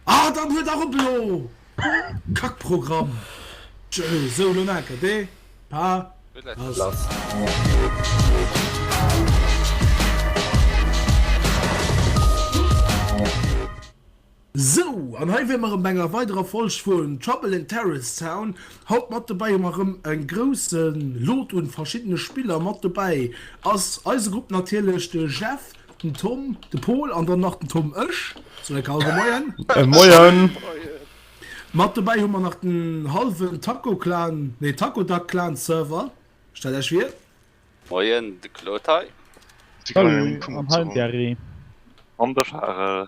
Ah dann huet dach op elo! Kack Programm! Tjö, sou lo nach ert ee paar Sou, an hei wier mer erem bei enger weiderer Folg vun Trouble in Terrorist Town. Haut mat dobäi hu mer erem en groussen Lot un verschiddenen Spiller. Mat dobäi ass eise Grupp natierlech de Jeff. Den Tom, de Pol an dann nach den Tom ech. So eng Karte Moien. Äh, Moien. Mat dobäi hu mer nach den halwen Tacoclan, nee Tacodac Clan Server. Stellt Iech vir. Moien, de Claude hei. Salut, an hei den Gary. An de Charel.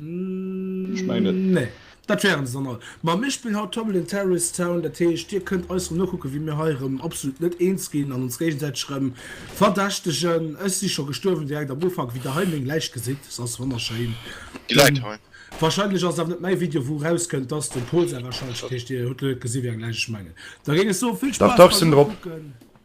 Ech mengen net. Nee, dat wären se dann all. Ma mir spillen haut Tumble in Terrorist Town, dat heescht dir kënnt eis erëm nokucken, wéi mir hei erëm absolut net eens ginn an ons géigesäiteg erëm verdächtegen. Ech si scho gestuerwen direkt am Ufank, wéi der hei meng Läich gesitt. Se ass wonnerschéin. Déi läit hei. Wahrscheinlech ass et awer net mäi Video, wou erauskënnt, dass den Pol säi wahrscheinlech. Dat heescht, dir hutt lo net gesi wéi eng Läich ech mengen. Da géing ech soen, vill Spaass beim nokucken.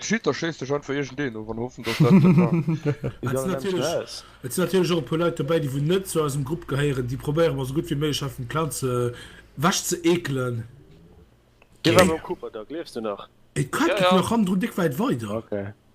Schitter schéist de Schand vu Igen Deen of an hoffen dat. Et sinn natierlech och e puer Leit dobäi, déi wou net zu eisem Grupp gehéieren, déi probéiere mer esou gutt wéi méiglech hei vum Clan ze wech ze eekelen. Dee war beim Cooper da, gleefs de nach? Et quackelt nach hannendrun déck wäit weider.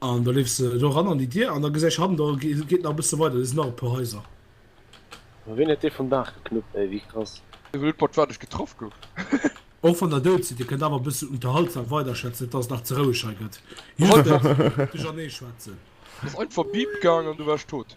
An da leefs de do eran an déi Dier an da gesäich hannen do geet nach e bësse weider, do sinn nach e puer Haiser. Ma wien huet dee vum Daach geknuppt ey, wéi krass. Ech hunn net mat wat ech getraff gouf. Och wann der dout sidd, dir kënnt awer e bëssen unterhaltsam weiderschwätzen, net dass et nach ze roueg hei gëtt. Just e bëssen duerchernee schwätzen. Ass einfach Bip gaang an du waars tot.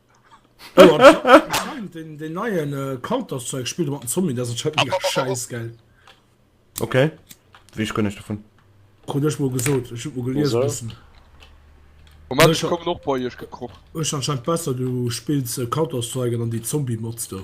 Den neien äh, Counter-Strike spielt mat den Zombie, dat ass halt mega scheiß geil. Okay. Wie ich gënneg davon. Krut ech mol gesot, ech huet mol gelies Wieso? bessen. Moment, Ech ich ha- kommen och bei iech gekroch. Ech anscheinend besser, du spills äh, Counter-Strike an dann déi Zombie-Mods do.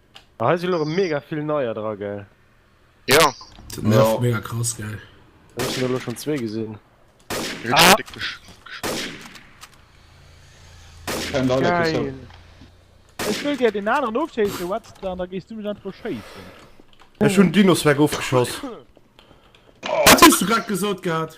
Ah hei sinn elo mega vill neier dra gell? Jo. Dat nervt mega krass gell. Ech hunn elo schonn zwee gesinn. Geil. Ech wëll dir deen aneren ofschéisse Webster an da gees du mech einfach beschéissen. Ech hunn Dinossaur ofgeschoss. Wat hues du grad gesot gehat?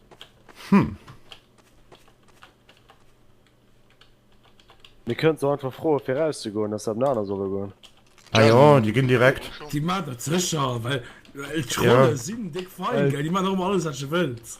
Hm. Mir kënnen se einfach froe fir erauszegoen, dass se op en anert solle goen. Ah jo, déi ginn direkt. Déi maan dat sécher, well d'Trolle sinn déck fein, gell, déi maan och ëmmer alles wat je wëlls.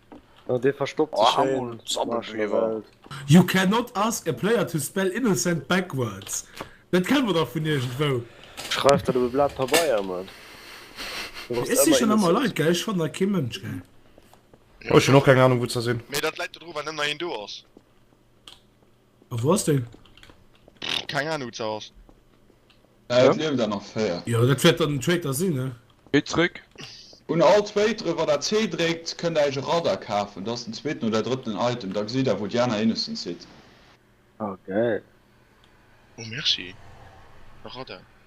Oh dee verstoppt sech schéin marsch mer Welt. You cannot ask a player to spell innocent backwards, dat kenne mer dach vun iergendwou. Schreif dat op e Blat Pabeier man. Ech sichen emmer Leit gell, ech fannen nach kee Mënsch gell. Oh ech hun och keng Ahnung wou zer sin. Mee dat läit dodru well net nach een do ass. A wou ass den? Keng Ahnung, wou ass. Äh, et lieft awer nach 4. Jo, dat wäert dann den Traitor sinn, ne? Geet zréck. Un all Traitere, wann der C dréckt, kënnt der iech e Radar kafen. Dat ass den zweeten oder drëtten Item. Da gesitt der, wou déi aner Innocents sidd. Oh, gäil. Oh, merci. E Radar.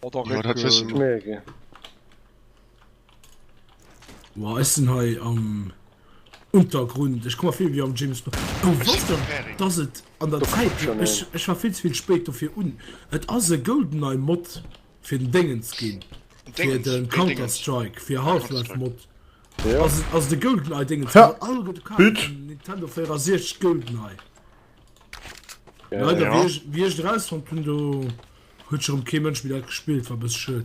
Oder dat wësse mer. Nee, okay. Wow, ech sinn hei am Untergrund. Ech komme vill wéi am James Bond. Oh, was denn? Dass et an der Zäit... Ech, ech war vill ze vill spéit dofir un. Et ass e Goldeneye Mod fir den Déngens ginn. Fir de Counter Strike, fir Half-Life Mod. Ass, ass de Goldeneye Déngens. All gëtt kal, Nintendo 64 Goldeneye. Äh, Leider, ja. wie, ich, wie ich raus von Tundo huet schon kein Mensch wieder gespielt war bis schön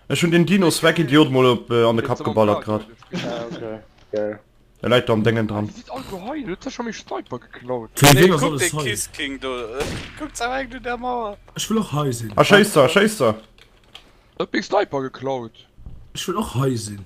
Ech hun den Dinos weg Idiot mal op äh, an de Kap geballert grad. Ah, okay. Geil. Er leit am Dengen dran. Ech will och hei sinn. A Schéisser, Schéisser! Dat Big Sniper geklaut. Ech will och hei sinn.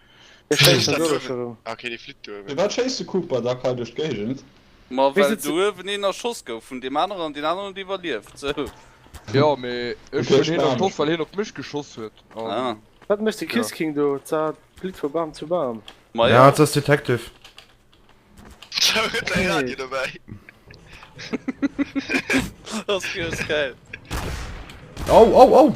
Firwat schéisst de Cooper da quai duerch d'Géigend? Ma well do uewen een erschoss gouf vun deem aneren an deen aneren huet iwwerlieft, sou. Jo mee ech hunn hien erschoss well hien op mech geschoss huet an. Wat mécht de Kiss King do? Zart Blit vu Bam zu Bam. Ja et ass Detective. Hou huet säi Radio dobäi. Ass geil. Au au au!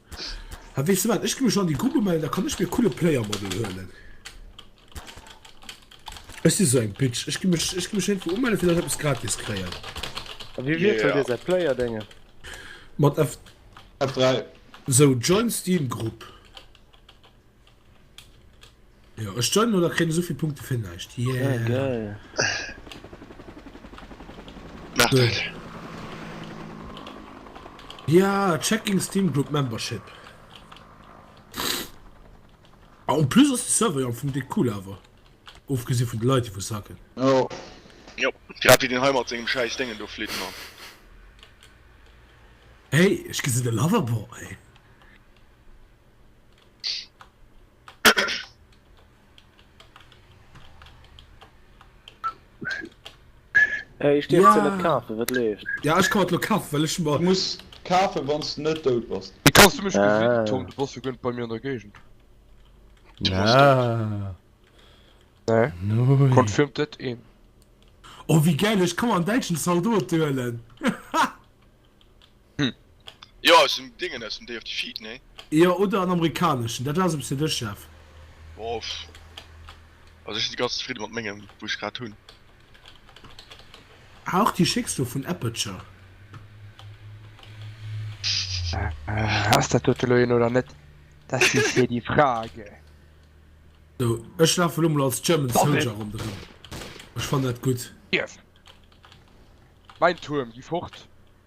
Hä, weess de wat, ech gi mech an déi Grupp umellen, da kann ech mir coole Playermodel huelen. Ech si sou eng Bitch, ech gi mech, ech gi mech héintwou umellen, fir datt ech eppes gratis kréien. A wéi wiesselt Dir säi Playerdéngen? Mat F3. Sou, Join Steam Group. Ja, ech joinen oder kriegen souvill Punkte fir näischt. Yeah. Ja, geil. Mach Gut. dat. Ja, checking Steam Group Membership. Ah, en plus ass de Server jo am Fong déi cool awer. Ofgesi vun de Leit, déi wou sacken. Jo. Jo, grad wéi deen hei mat sengem schäiss Déngen do flitt, Mann. Hey, ech ginn se de Loverboy. Hey, ich dir ja. net kafe wat leeft Ja ich kann lo kaf well ich mal muss kafe wanns du net dout bass Wie kannst du mech ah. gesinn Tom du bass gënnt bei mir an der Gegend ja. nee. no. Confirmed dat een Oh wie geil ich kann an deitschen Saldo duelen Jo aus dem Dingen aus dem Day of Defeat nee? Jo oder en amerikaneschen, dat ass e bëssen de Chef. Bof, also ech si ganz zefridde mat mengem wou ech grad hunn. Ah och déi schécks do vun Aperture. Ass dat dote lo een oder net? Das ist hier die Frage. So ech lafe lo mol als German Soldier ronderëm, ech fannen dat gutt. Yes! Mein Tuerm, gi fort!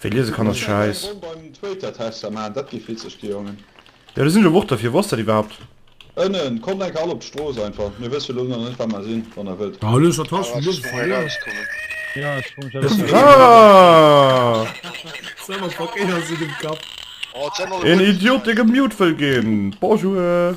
Wéi liese kann ass schäiss. Jo do sinn elo Worter fir, wou ass dat iwwerhaapt? Een Idiot dee gemute wëll ginn. Bonjour.